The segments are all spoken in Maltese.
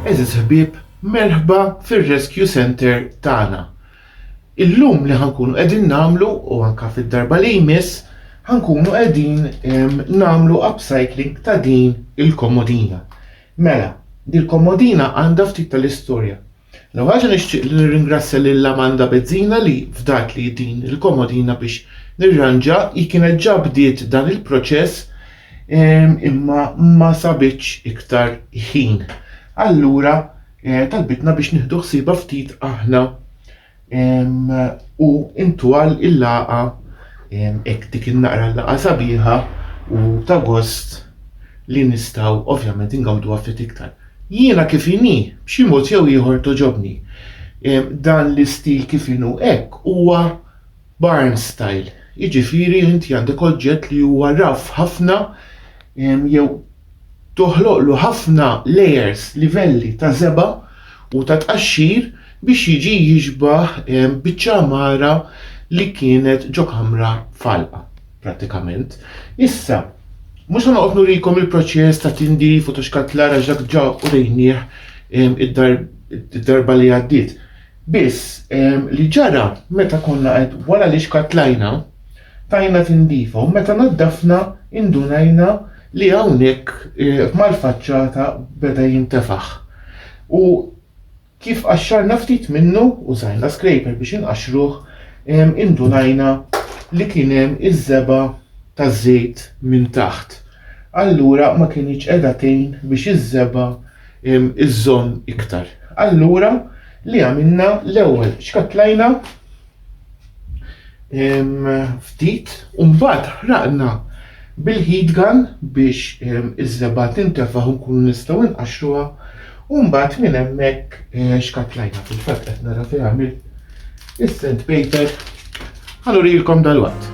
Għeżież ħbieb, merħba fir-Rescue Center tagħna. Illum li ħankunu qegħdin nagħmlu u anka fid-darba li jmiss ħankunu qegħdin ehm, nagħmlu upcycling ta' din il-komodina. Mela, din il-komodina għandha ftit tal-istorja. L-ewwel ħaġa nixtieq li nirringrazzja lil Amanda Bezzina li fdatli din il-komodina biex nirranġa hi kienet ġa bdiet dan il-proċess ehm, imma ma sabitx iktar ħin. Allura eh, talbitna biex nieħdu ħsieba ftit aħna u ntwal il-laqgħa hekk dik in-naqra l-laqgħa sabiħa u ta' gost li nistgħu ovvjament ingawduha ftit iktar. Jiena kif inhi, b'xi mod jew ieħor toġobni. Dan l-istil kif inhu hekk huwa barn style, jiġifieri inti għandek oġġett li huwa raff ħafna jew toħloqlu ħafna layers, livelli, ta' żebgħa u ta' tqaxxir biex jiġi jixbah biċċa għamara li kienet ġo kamra f'għalqa, prattikament. Issa, mhux se noqgħod nurikom il-proċess ta' tindif u ta' xkantlar għax dak ġa urejnieh id-darba li għaddiet. Biss, li ġara meta konna qed wara li xkantlajna, tajna tindifa u meta naddafna indunajna li hawnhekk mal-faċċata beda jintefaħ u kif qaxxarna ftit minnu, użajna scraper biex inqaxxruh, indunajna li kien hemm iż-żebgħa taż-żejt minn taħt. Allura ma kinitx qiegħda tgħin biex iż-żebgħa iżżomm iktar. Allura li għamilna l-ewwel xkattlajna ftit u mbagħad ħraqna bil-heat gun biex iż-żebgħa tintefaħ u nkunu nistgħu nqaxxuha u mbagħad minn hemmhekk eh, xkatlajna fil-fatt qed nara fejn għamil is-sand paper ħallu rilkom dal-waqt.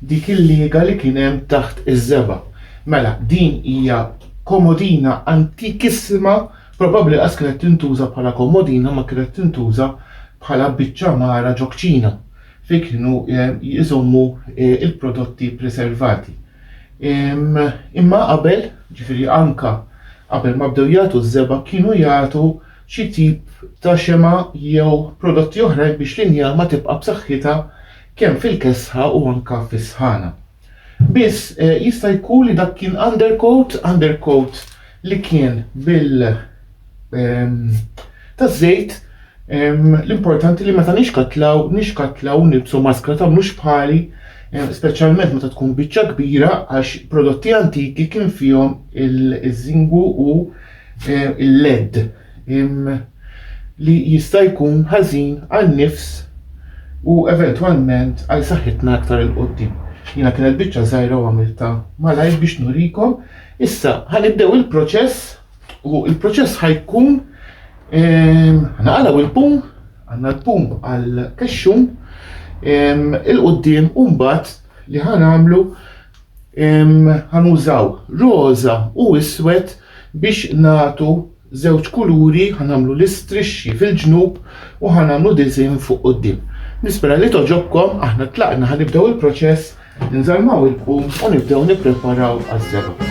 Dik il-liega li kien hemm taħt iż-żebgħa. Mela, din hija komodina antikissima, probabbli qas kienet tintuża bħala komodina ma kienet tintuża bħala biċċa mgħara ġo kċina fejn kienu jżommu l-prodotti preservati. Imma qabel, ġifieri anke qabel ma bdew jagħtu ż-żebgħa kienu jagħtu xi tip ta' xemgħa jew prodotti oħrajn biex l-injama tibqa' b'saħħitha kemm fil-kesħa u anke fis-sħana. Biss, jista' jkun li dak kien undercoat, undercoat li kien bil ehm, taż-żejt, ehm, l-importanti li meta nixkatlaw, nixkatlaw u nilbsu maskra ta' mhux bħali, ehm, speċjalment meta tkun biċċa kbira għax prodotti antiki kien fihom il-żingu u eh, il-LED, li jista' jkun ħażin għan-nifs u eventwalment għal saħħitna aktar il qoddim Jiena kienet biċċa żgħira u għamilta malajr biex nurikom. Issa ħanibdew il-proċess u il-proċess ħajkun ehm, naqalaw il-pum, għandna l-pum għal kexxum ehm, il-qoddim u mbagħad li ħanamlu ħanużaw roża u iswed biex nagħtu żewġ kuluri ħanamlu l-istrixxi fil-ġnub u ħanamlu diżin fuq qudiem. Nispera li toġobkom aħna tlaqna ħanibdew il-proċess nżarmaw il-bum u nibdew nippreparaw għaż-żebgħa.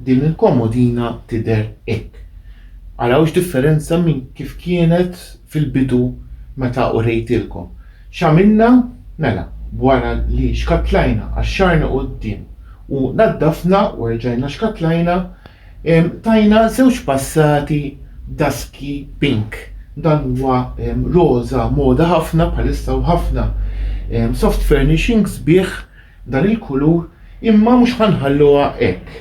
Din il-komodina tidher hekk. Araw x'differenza minn kif kienet fil-bidu meta urejtilkom. X'għamilna? Mela, b'wara li xkattlajna, qaxxarna quddiem u naddafna u erġajna xkattlajna, tajna żewġ passati b'daski pink. Dan huwa roża moda ħafna bħalissa u ħafna soft furnishings bih. dan il-kulur imma mhux ħa nħalluha hekk.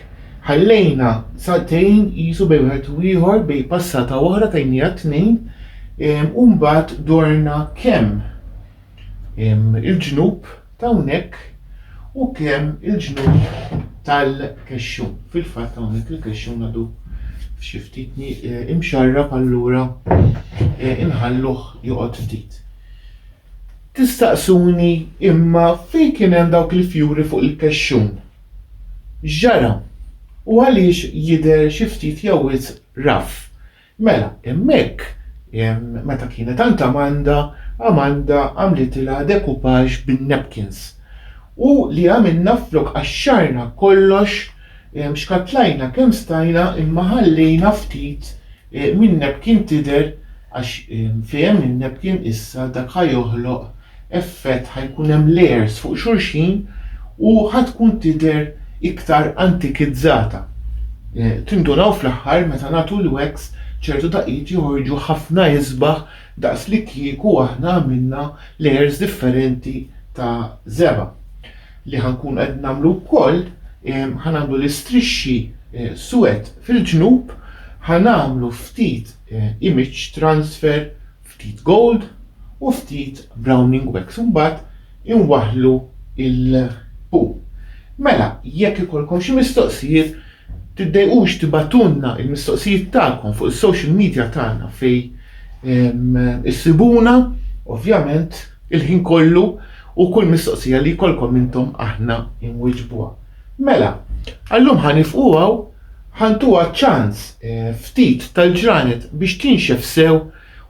Ħallejna sagħtejn qisu bejn wieħed u ieħor bejn passata waħda tajniha tnejn u mbagħad dorna kemm il-ġnub ta' hawnhekk u kemm il-ġnub tal-kexxun. Fil-fatt hawnhekk il-kexxun għadu xi ftit eh, imxarrab allura eh, inħalluh joqgħod ftit. Tistaqsuni, Imma fejn kien hemm dawk il-fjuri fuq il-kexxun? X'ġara? U għaliex jidher xi ftit jew wisq raff? Mela, hemmhekk, meta kienet għand Amanda, Amanda għamlitilha decoupage bin-napkins. U li għamilna flok qaxxarna kollox, xkattlajna kemm stajna imma ħallejna ftit Min Nepkin tidher għax fehem min Nepkin issa dak ħa joħloq effett ħa jkun hemm layers fuq xulxin u ħa tkun tidher iktar antikizzata. Tindunaw fl-aħħar meta nagħtu l-wax ċertu daqqiet joħorġu ħafna isbaħ daqs li kieku aħna għamilna layers differenti ta' żebgħa. li ħa nkunu qed nagħmlu wkoll, ħa nagħmlu l-istrixxi suwed fil-ġnub, ħa nagħmlu ftit image transfer, ftit gold u ftit browning wax u mbagħad inwaħħlu l-pu. Mela, jekk ikollkom xi mistoqsijiet, tiddejqux tibagħtulna l-mistoqsijiet tagħkom fuq is-social media tagħna fejn issibuna, ovvjament Il-ħin kollu u kull mistoqsija li jkollkom intom aħna inwiġbuha. Mela, għallum ħanifqu hawn ħantuha ċans eh, ftit tal-ġranet biex tinxef sew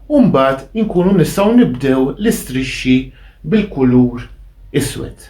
u mbagħad inkunu nistgħu nibdew l-istrixxi bil-kulur iswed.